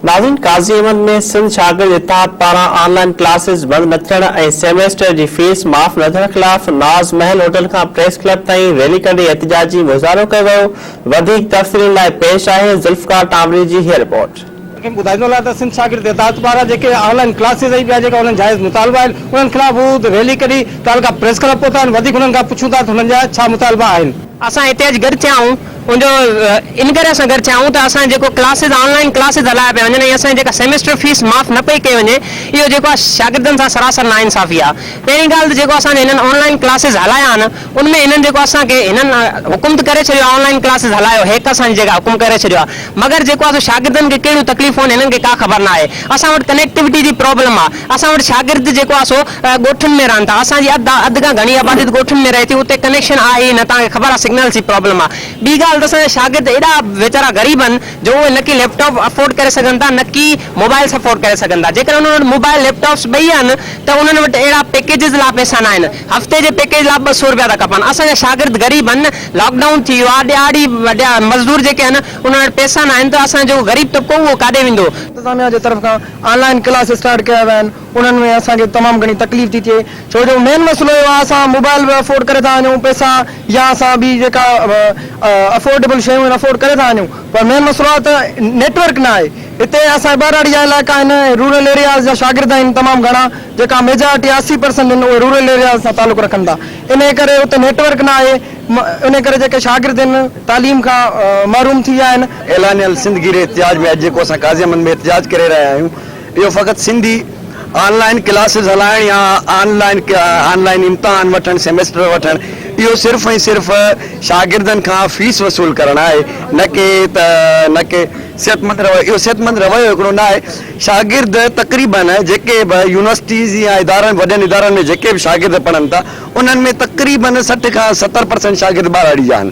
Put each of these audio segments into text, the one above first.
ناظرين قاضي احمد ۾ سنڌ شاگرد اتحاد پاران آن لائين ڪلاسز بند نه ٿيڻ ۽ سيميسٽر جي فيس معاف نه ٿيڻ خلاف ناز محل هوٽل کان پريس ڪلب تائين ريلي ڪڍي احتجاجي مظاهرو ڪيو ويو وڌيڪ تفصيلن لاء پيش آهي ذوالفقار ٽامري جي هي رپورٽ. تنهن ٻڌائي ڏنو آهي ته سنڌ شاگرد اتحاد پاران جيڪي آن لائين ڪلاسز ۽ ٻيا جيڪا انهن جائز مطالبا آهن انهن خلاف هو ريلي ڪڍي تعلقه پريس ڪلب پهتا آهن وڌيڪ انهن کان پڇون ٿا ته انهن جا ڇا مطالبا آهن. اسان هتي اڄ گڏ ٿيا آهيون ان جو ان ڪري اسان گڏ ٿيا آهيون ته اسان جيڪو ڪلاسز آن لائين ڪلاسز هلايا پيا وڃن ۽ اسان جي جيڪا سيمسٽر فيس معاف نه پئي ڪئي وڃي اهو جيڪو آهي شاگردن سان سراسر نا انصافي آهي پهرين ڳالهه ته جيڪو اسان جي هنن آن لائين ڪلاسز هلايا آهن ان ۾ هنن جيڪو اسان کي هنن حڪم ته ڪري ڇڏيو آهي آن لائين ڪلاسز هلايو هيڪ اسان جي جيڪا حڪم ڪري ڇڏيو آهي مگر جيڪو آهي سو شاگردن کي ڪهڙيون تڪليفون آهن هنن کي ڪا خبر ناهي اسان وٽ ڪنيڪٽيوٽي جي پرابلم آهي اسان وٽ شاگرد جيڪو آهي سو ڳوٺن ۾ رهن ٿا اسان جي اڌ اڌ کان گهڻي آبادي ته ڳوٺن ۾ رهي ٿي اتي ڪنيڪشن آهي ئي نه توهان کي خبر آهي سگنلز جي پرابلم آهي ٻي ڳالهه ته اسان جا شاگرد ايڏا ويچارا غريب آهن جو اهي نه ڪي ليپ ٽاپ افورڊ ڪري سگهن ٿا نه ڪي موبائلس افورڊ ڪري سگهن ٿا جيڪڏهن انهن وٽ موبائل ليپ ٽاپس ٻئي آهن ته انهن وٽ اهڙا پيڪيجز لا پئسا نه آهن هفتي جي پيڪيج لا به ٻه سو روپيا ٿا کپن اسان جا شاگرد غريب آهن لاڪ ڊائون ٿي ويو آهي ڏهاڙي مزدور جيڪي آهن انهن وٽ پئسا نه آهن ته اسان جو غريب طبقو اهو ڪاڏي ويندو. انتظاميا جي طرف کان آن لائن ڪلاس اسٽارٽ ڪيا ويا آهن انهن ۾ اسان کي تمام گهڻي تڪليف ٿي ٿئي ڇو جو مين مسئلو اهو آهي اسان موبائل به افورڊ ڪري ٿا وڃون پئسا يا اسان ٻي جيڪا افورڊيبل شيون آهن افورڊ ڪري ٿا وڃون پر مين مسئلو آهي ته نيٽورڪ نه آهي هتي اسان ٻهراڙي جا علائقا آهن رورل ايرياز جا شاگرد آهن تمام گهڻا جيڪا ميجارٽي اسي پرسنٽ آهن اهي رورل ايرياز سان تعلق رکن ٿا انهي ڪري اتي نيٽورڪ نه آهي انهي ڪري جيڪي شاگرد آهن تعليم کان محروم ٿي ويا آهن. اعلانيه السنڌ گيري احتجاج ۾ اڄ جيڪو اسان قاضي امن ۾ احتجاج ڪري رهيا آهيون اهو فقط سنڌي آن لائن ڪلاسز هلائڻ يا آن لائن آن لائن امتحان وٺڻ سيمسٽر وٺڻ اهو صرف ۽ صرف شاگردن کان فيس وصول ڪرڻ آهي نه ڪي ته نه ڪي صحت مند رويو اهو صحت مند رويو هڪڙو نه آهي شاگرد تقريبن جيڪي به يونيورسٽيز يا ادارن وڏن ادارن ۾ جيڪي به شاگرد پڙهن ٿا انهن ۾ تقريبن سٺ کان ستر پرسنٽ شاگرد ٻاراڙي جا آهن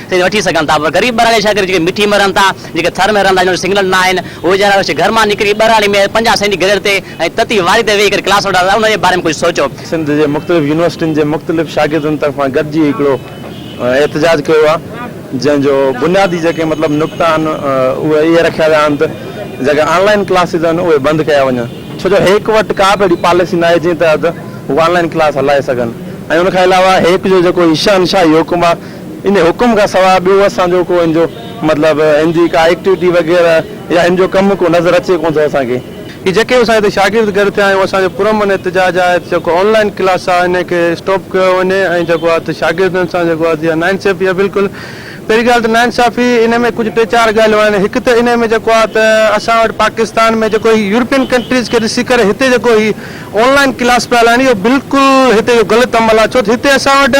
تي وٺي سگهن ٿا پر غريب ٻهراڙي ڇا ڪري جيڪي مٺي ۾ رهن ٿا جيڪي ٿر ۾ رهن ٿا جن وٽ سگنل نه آهن اهي ويچارا وشي گهر مان نڪري ٻهراڙي ۾ پنجاهه سينٽي گريڊ تي ۽ تتي واري تي ويهي ڪري ڪلاس وٺندا ته ان جي باري ۾ ڪجهه سوچو. سنڌ جي مختلف يونيورسٽين جي مختلف شاگردن طرفان گڏجي هڪڙو احتجاج ڪيو آهي جنهن جو بنيادي جيڪي مطلب نقطا آهن اهي اهي رکيا ويا آهن ته جيڪي آن لائن ڪلاسز آهن اهي بند ڪيا وڃن ڇو جو هيڪ وٽ ڪا به اهڙي پاليسي نه آهي جنهن تحت هو آن لائن ڪلاس هلائي سگهن ۽ ان کان علاوه هيڪ جو جيڪو هي شهنشاهي حڪم آهي ان حڪم کان سواء ٻيو اسان جو ڪو هن جو مطلب هن جي ڪا ايڪٽيوٽي وغيره يا هن جو ڪم ڪو نظر اچي ڪونه ٿو اسان کي. هي جيڪي اسان هتي شاگرد گڏ ٿيا آهيون اسان جو پرامن احتجاج آهي ته جيڪو آن لائن ڪلاس آهي ان کي اسٽاپ ڪيو وڃي ۽ جيڪو آهي ته شاگردن سان جيڪو آهي جيئن ناانصافي آهي بلڪل پهرين ڳالهه ته ناانصافي ان ۾ ڪجهه ٽي چار ڳالهيون آهن هڪ ته ان ۾ جيڪو آهي ته اسان وٽ پاڪستان ۾ جيڪو هي يورپين ڪنٽريز کي ڏسي ڪري هتي جيڪو هي آن لائن ڪلاس پيا هلائين اهو بلڪل هتي جو غلط عمل آهي ڇو ته هتي اسان وٽ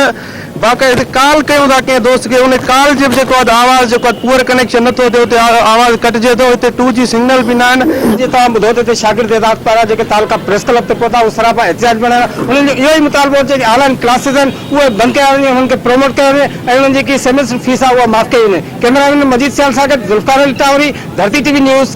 باقاعده هتي ڪال ڪيون ٿا ڪنهن دوست کي ان ڪال جي به جيڪو آهي آواز جيڪو آهي پوئر ڪنيڪشن نٿو ٿئي اتي آواز ڪٽجي ٿو هتي ٽو جي سگنل به نه آهن. جيئن توهان ٻڌو ته هتي شاگرد اعزاز پارا جيڪي تعلقا پريس ڪلب تي پهتا اهو سراپا احتجاج بڻيل آهي انهن جو اهو ئي مطالبو آهي جيڪي آن لائن ڪلاسز آهن اهي بند ڪيا وڃن انهن کي پروموٽ ڪيو وڃي ۽ انهن جي جيڪي سيمسٽر فيس آهي اها معاف ڪئي وڃي ڪئميرا مين مجيد سيال سان گڏ ذوالفقار علي ٽاوري ڌرتي ٽي وي نيوز